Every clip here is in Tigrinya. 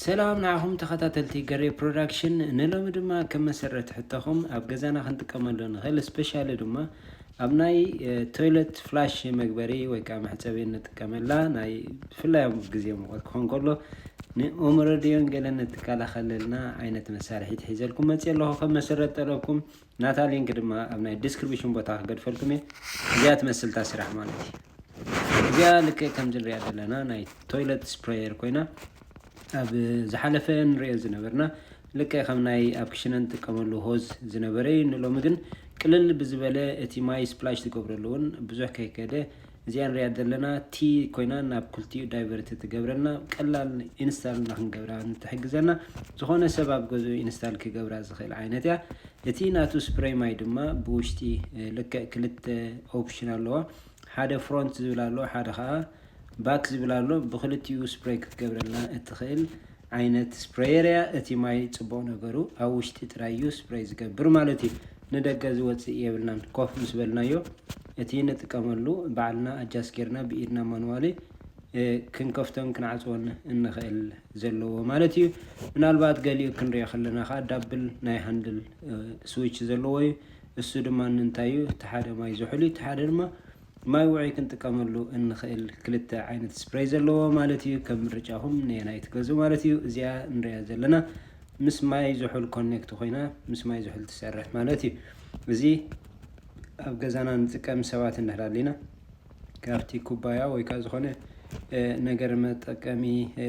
ሰላም ንዓኹም ተኸታተልቲ ገሬ ፕሮዳክሽን ንሎሚ ድማ ከም መሰረት ሕቶኹም ኣብ ገዛና ክንጥቀመሉ ንኽእል ስፔሻሊ ድማ ኣብ ናይ ቶይለት ፍላሽ መግበሪ ወይ ከዓ መሕፀቢ እንጥቀመላ ናይ ብፍላይ ኣብ ግዜ ሙቐት ክኾን ከሎ ንኦሞረድዮን ገለን እትከላኸለልና ዓይነት መሳርሒት ሒዘልኩም መፅየ ኣለኹ ከም መሰረት ጠለብኩም ናታ ሊንክ ድማ ኣብ ናይ ዲስክሪብሽን ቦታ ክገድፈልኩም እየ እዚኣ ትመስል እታ ስራሕ ማለት እዩ እዚኣ ልክዕ ከምዚ ንሪኣ ዘለና ናይ ቶይለት ስፕሬየር ኮይና ኣብ ዝሓለፈ ንሪኦ ዝነበርና ልክዕ ከም ናይ ኣብ ክሽነ ንጥቀመሉ ሆዝ ዝነበረ እዩ ንሎሚ ግን ቅልል ብዝበለ እቲ ማይ ስፕላሽ ዝገብረሉ እውን ብዙሕ ከይከደ እዚኣ ንሪኣ ዘለና T ኮይና ናብ ክልቲኡ ዳይቨርት ትገብረልና ቀላል ኢንስታል ንክንገብራ ንትሕግዘና ዝኾነ ሰብ ኣብ ገዝኡ ኢንስታል ክገብራ ዝኽእል ዓይነት እያ እቲ ናቱ ስፕረይ ማይ ድማ ብውሽጢ ልክዕ ክልተ ኦፕሽን ኣለዋ ሓደ ፍሮንት ዝብል ኣሎ ሓደ ከዓ ባክ ዝብል ኣሎ ብክልቲኡ ስፕረይ ክትገብረልና እትኽእል ዓይነት ስፕረየር እያ እቲ ማይ ጽቡቅ ነገሩ ኣብ ውሽጢ ጥራይ እዩ ስፕረይ ዝገብር ማለት እዩ ንደገ ዝወጽእ የብልናን ኮፍ ምስ በልናዮ እቲ ንጥቀመሉ ባዕልና ኣጃስ ጌርና ብኢድና ማንዋሊ ክንከፍቶን ክንዓጽዎን እንኽእል ዘለዎ ማለት እዩ ምናልባት ገሊኡ ክንሪኦ ከለና ከኣ ዳብል ናይ ሃንድል ስዊች ዘለዎ እዩ እሱ ድማ እንታይ እዩ እቲ ሓደ ማይ ዝሑል እዩ እቲ ሓደ ድማ ማይ ውዑይ ክንጥቀመሉ እንኽእል ክልተ ዓይነት ስፕረይ ዘለዎ ማለት እዩ ከም ምርጫኹም ነየናይ ትገዝኡ ማለት እዩ። እዚኣ ንሪኣ ዘለና ምስ ማይ ዝሑል ኮኔክት ኮይና ምስ ማይ ዝሑል ትሰርሕ ማለት እዩ። እዚ ኣብ ገዛና ንጥቀም ሰባት እንዳህላሊና ካብቲ ኩባያ ወይ ከዓ ዝኾነ ነገር መጠቀሚ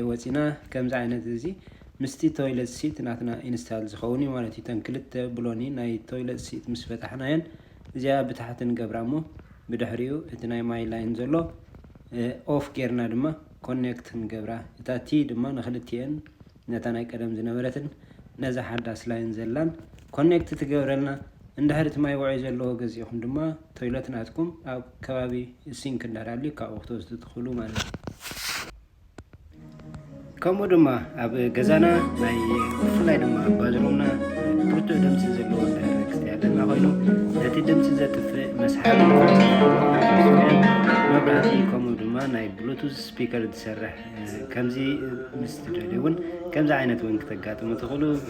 ወፂና ከምዚ ዓይነት እዚ ምስቲ ቶይለት ሲት ናትና ኢንስታል ዝኸውን እዩ ማለት እዩ። እተን ክልተ ብሎኒ ናይ ቶይለት ሲት ምስ ፈታሕናየን እዚኣ ብታሕቲ ንገብራ እሞ ብድሕሪኡ እቲ ናይ ማይ ላይን ዘሎ ኦፍ ጌርና ድማ ኮኔክት ንገብራ እታ ቲ ድማ ንክልቲኤን ነታ ናይ ቀደም ዝነበረትን ነዛ ሓዳስ ላይን ዘላን ኮኔክት ትገብረልና እንድሕር እቲ ማይ ውዑይ ዘለዎ ገዚእኹም ድማ ቶይለት ናትኩም ኣብ ከባቢ ሲንክ እንድሕር ኣልዩ ካብኡ ክትወስዱ ትኽእሉ ማለት እዩ። ከምኡ ድማ ኣብ ገዛና ናይ ብፍላይ ድማ ኣብ ባዝሩምና ብርቱዕ ድምፂ ዘለዎ እንድሕር ክስተያለና ኮይኑ ነቲ ድምፂ ዘጥፍእ መስሓቢ መብራህቲ ከምኡ ድማ ናይ ብሉቱዝ ስፒከር ዝሰርሕ ከምዚ ምስ ትደልዩ እውን ከምዚ ዓይነት እውን ክተጋጥሙ ትኽእሉ